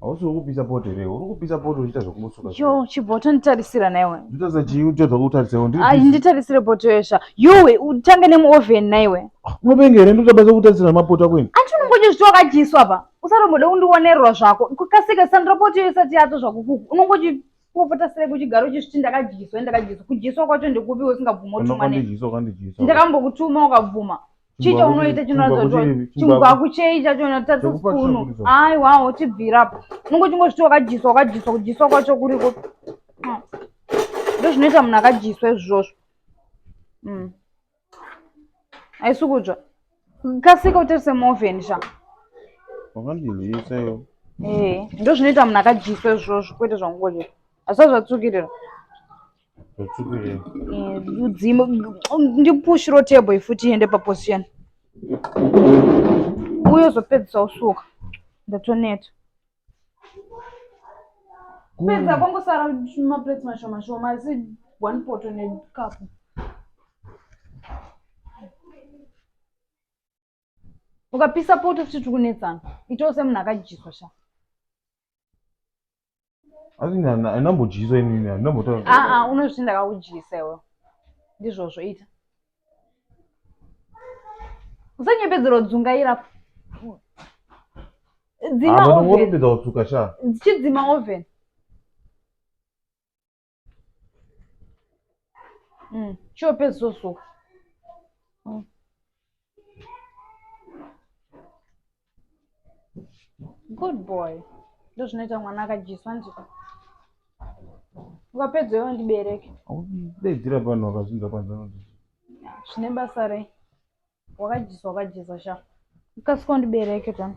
hausi uri kupisa poto here uri kupisa poto uchiita zvekumusuka yo chiboto nditarisira naiwe nditarisira chii uchadza kutarisawo ai nditarisire poto yesha yowe utange nemuoven naiwe unopenga here ndotabasa kutarisira mapoto ako ini anti unongonya zviti wakadyiswa pa usatomboda kundionerwa zvako kukasika sandira poto yo isati yato zvako kuku unongochi popota sere kuchigaro chesviti ndakadyiswa ndakadyiswa kudyiswa kwacho ndekupi usingabvumi utumwa ndakambokutuma ukabvuma chii chaunoita chinoratidza kuti chimugwaku chei chachona tatse spunu aiwawo chibvira apo unongo chingozviti wakajiswa wakajiswa kujiswa kwacho kuriko ah. ndozvinoita munhu akajiswa izvozvo mm. haisi kudzva kasika utarise moven sha wakandinzisa iyo ee eh, ndozvinoita munhu akadyiswa izvozvo kwete zvangukoje asi azvatsukirira Udzimu ndipushiro table ifuti iende paposition. Uyo zopedzisa usuka. Ndatoneta. Pedza kwangu sara maplates mashoma shoma asi one pot ne cup. ukapisa poto futi tiri kunetsana itawo semunhu akadyiswa sha asi andinambodyisa inini andinambotaura aa ah, ah, unozviti ndakakudyisa iwe ndizvozvo ita usanyepedzerwa dzungaira dzima oven chidzima oven Mm. Chope zoso. Mm. Good boy. Ndozvinoita mwana akadyiswa nje. Ukapedza iwe ndibereke. Daidzira pano wakazvinza kwanza noti. Zvine basa rei? Wakadyiswa wakadyiswa sha. Ukasika ndibereke tani.